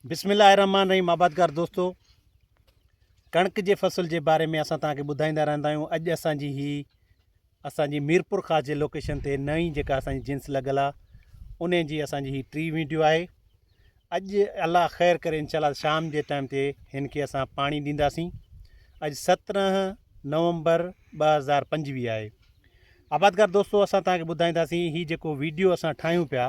بسم الله الرحمن الرحيم آبادگار دوستو ڪڻڪ جي فصل جي باري ۾ اسان توهان کي ٻڌائيندا رهندا آهيون اڄ اسان جي هي اسان جي ميرپور خاص جي لوڪيشن تي نئين جيڪا اسان جي جنس لڳل آهي ان جي اسان جي هي ٽي ويڊيو آهي اڄ الله خير ڪري انشاء الله شام جي ٽائم تي هن کي اسان پاڻي ڏينداسين اڄ سترهن نومبر ٻ هزار پنجويهه آهي آبادگار دوستو اسان توهان کي ٻڌائينداسين هي جيڪو ويڊيو اسان ٺاهيون پيا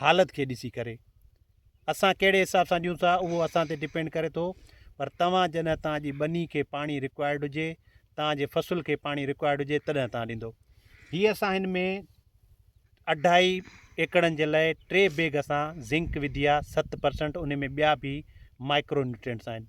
حالت کي ڏسي ڪري اسان ڪهڙي حساب سان ڏيون ٿا اهو اسان تي ڊپينڊ ڪري ٿو پر توهان جڏهن توهان جي ٻني کي پاڻي رڪوائرڊ هجي توهان جي فصل کي پاڻي رڪوائرڊ هجي تڏهن توهان ڏيندو هي اسان هن ۾ اڍائي ايڪڙن جي لاء ٽي بيگ اسان زنڪ وڌي آهي ست پرسنٽ ان ۾ ٻيا به مائڪرو نيوٽرينٽس آهن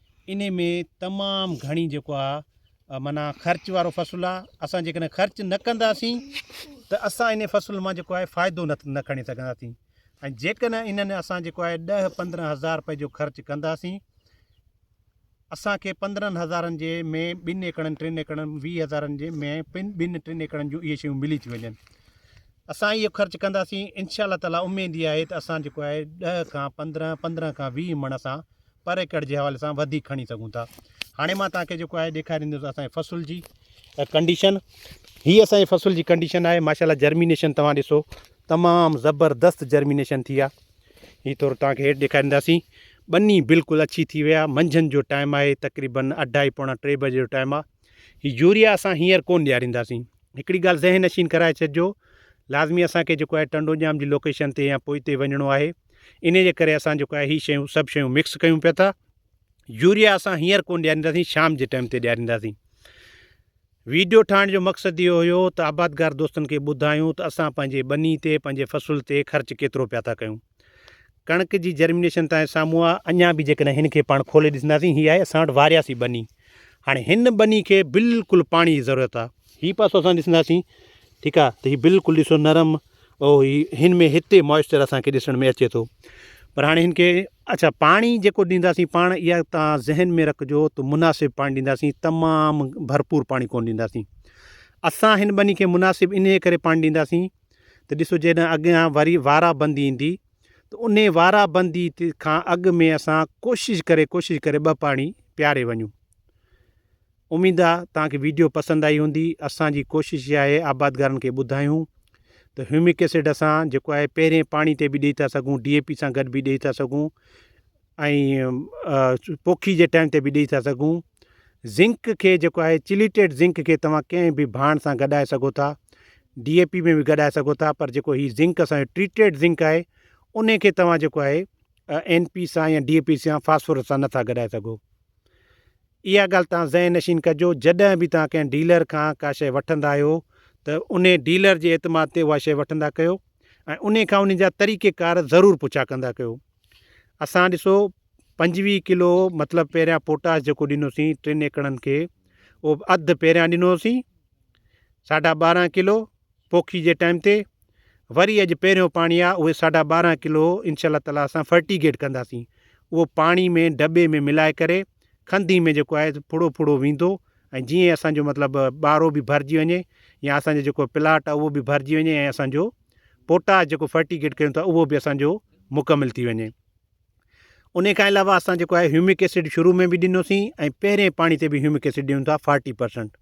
انهي ۾ تمام گهڻي جيڪو آ معنيٰ خرچ وارو فصل آ اسان جيڪڏهن خرچ نه ڪنداسين ته اسان انهي فصل مان جيڪو آهي فائدو نه کڻي سگهنداسين ۽ جيڪڏهن انهن اسان جيڪو آهي ڏهه پندرهن هزار رپئي جو خرچ ڪنداسين اسان کي پندرهن هزارن جي ۾ ٻن ايڪڙن ٽن ايڪڙن ويهه هزارن جي ۾ پن ٻن ٽن ايڪڙن جون اهي شيون ملي ٿي وڃن اسان اهو خرچ ڪنداسين انشاء الله تعالٰي اميد اها آهي ته اسان جيڪو آهي ڏهه کان پندرهن پندرهن کان ويهه مڻ اسان پر ايڪڙ جي حوالي سان وڌيڪ کڻي سگهون ٿا هاڻي مان توهان کي جيڪو آهي ڏيکاريندس اسان جي فصل جي ڪنڊيشن هي اسان جي فصل جي ڪنڊيشن آهي ماشاالله جرمينيشن توهان ڏسو تمام زبردست جرمينيشن ٿي آ هي ٿورو توهان کي هيٺ ڏيکارينداسين ٻني بلڪل اڇي ٿي ويا منجهند جو ٽائيم آهي تقريبن اڍائي پوڻا ٽي بجي جو ٽائيم آهي هي يوريا اسان هينئر ڪون ڏيارينداسين هڪڙي ڳالهه ذهن نشين ڪرائي ڇڏجو لازمي اسان کي جيڪو آهي ٽنڊو ڄام جي لوڪيشن تي يا پوئتي وڃڻو آهي انهي جي ڪري اسان جيڪو آهي هي شيون سڀ شيون مڪس ڪيون پيا ٿا يوريا اسان هينئر ڪونه ڏيارينداسين شام جي ٽائيم تي ڏيارينداسين ويڊيو ٺاهڻ جو مقصد اهو هيو ته آبادگار دوستن کي ٻڌايون ته اسان پنهنجي ٻني تي پنهنجي فصل تي خرچ ڪيترو پيا ٿا ڪيون ڪڻڪ جي جرمينيشن تائين سامهون آ اڃا به جيڪڏهن هن کي پاڻ کولي ڏسنداسين هي آهي اسان وٽ وارياسي ٻني هاڻي هن ٻني کي بلڪل پاڻي جي ضرورت آ هي پاسو اسان ڏسنداسين ٺيڪ آ ته هي بلڪل ڏسو نرم او هي هن ۾ هتي موئسچر اسان کي ڏسڻ ۾ اچي ٿو پر هاڻي هن کي اچا پاڻي جيڪو ڏينداسين پاڻ اها تان ذهن ۾ رکجو ته مناسب پاڻي ڏينداسين تمام ڀرپور پاڻي ڪون ڏينداسين اسان هن ٻني کي مناسب انهي ڪري پاڻي ڏينداسين ته ڏسو جڏهن اڳيان وري وارا بندي ايندي ته ان وارا بندي کان اڳ ۾ اسان ڪوشش ڪري ڪوشش ڪري ٻه پاڻي پياري وڃون اميد آ توهان کي ويڊيو پسند آئي هوندي اسان جي ڪوشش اها آهي آبادگارن کي ٻڌايون ته هيومڪ ايسڊ اسان جيڪو آهي پهرين پاڻي تي به ڏئي ٿا سگهون ڊي اي پي سان گڏ به ڏئي ٿا سگهون ۽ پوکي جي ٽائيم تي به ڏئي ٿا سگهون زنڪ کي جيڪو آهي چليٽيڊ زنڪ کي توهان ڪنهن به ڀاڻ سان گڏائي سگهو ٿا ڊي اي پي ۾ به گڏائي سگهو ٿا پر جيڪو هي زنڪ اسان ٽريٽيڊ زنڪ آهي ان کي توهان جيڪو آهي اين پي سان يا ڊي اي پي سان فاسفورس سان نٿا گڏائي سگهو اها ڳالهه توهان ذهن نشين ڪجو جڏهن به توهان ڪنهن ڊيلر کان ڪا شيء وٺندا آهيو ته انهي ڊيلر جي اعتماد تي اها شيء وٺندا ڪيو ۽ انهي کان انهي جا طريقي ڪار ضرور پڇا ڪندا ڪيو اسان ڏسو پنجويهه ڪلو مطلب پهريان پوٽاش جيڪو ڏنوسين ٽن ايڪڙن کي اهو اڌ پهريان ڏنوسين ساڍا ٻارهن ڪلو پوکي جي ٽائيم تي وري اڄ پهريون پاڻي آ اهي ساڍا ٻارهن ڪلو انشاء الله تعالٰي اسان فرٽيگيٽ ڪنداسين اهو پاڻي ۾ ڊٻي ۾ ملائي ڪري کنڌي ۾ جيڪو آهي ڦڙو ڦڙو ويندو ۽ جيئن اسانجو مطلب ٻارو به ڀرجي وڃي يا اسانجو جيڪو پلاٽ آ اهو به ڀرجي وڃي ۽ اسانجو پوٽاش جيڪو فرٽيگيٽ ڪيون ٿا اهو به اسانجو مڪمل ٿي وڃي ان کان علاوه اسان جيڪو آهي هيومڪ ايسڊ شروع ۾ به ڏنوسين ۽ پهرين پاڻي تي به هيومڪ ايسڊ ڏيون ٿا فارٽي پرسنٽ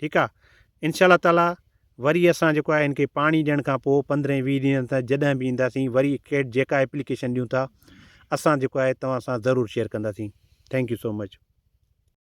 ٺيڪ آ انشاء الله تعالٰي وري اسان جيڪو آهي ان کي پاڻي ڏيڻ کان پوء پندرهن ويهه ڏينهن تان جڏهن به اينداسين وري کيٽ جيڪا اپليڪيشن ڏيون ٿا اسان جيڪو آهي توهان سان ضرور شيئر ڪنداسين ٿينڪ يو سو مچ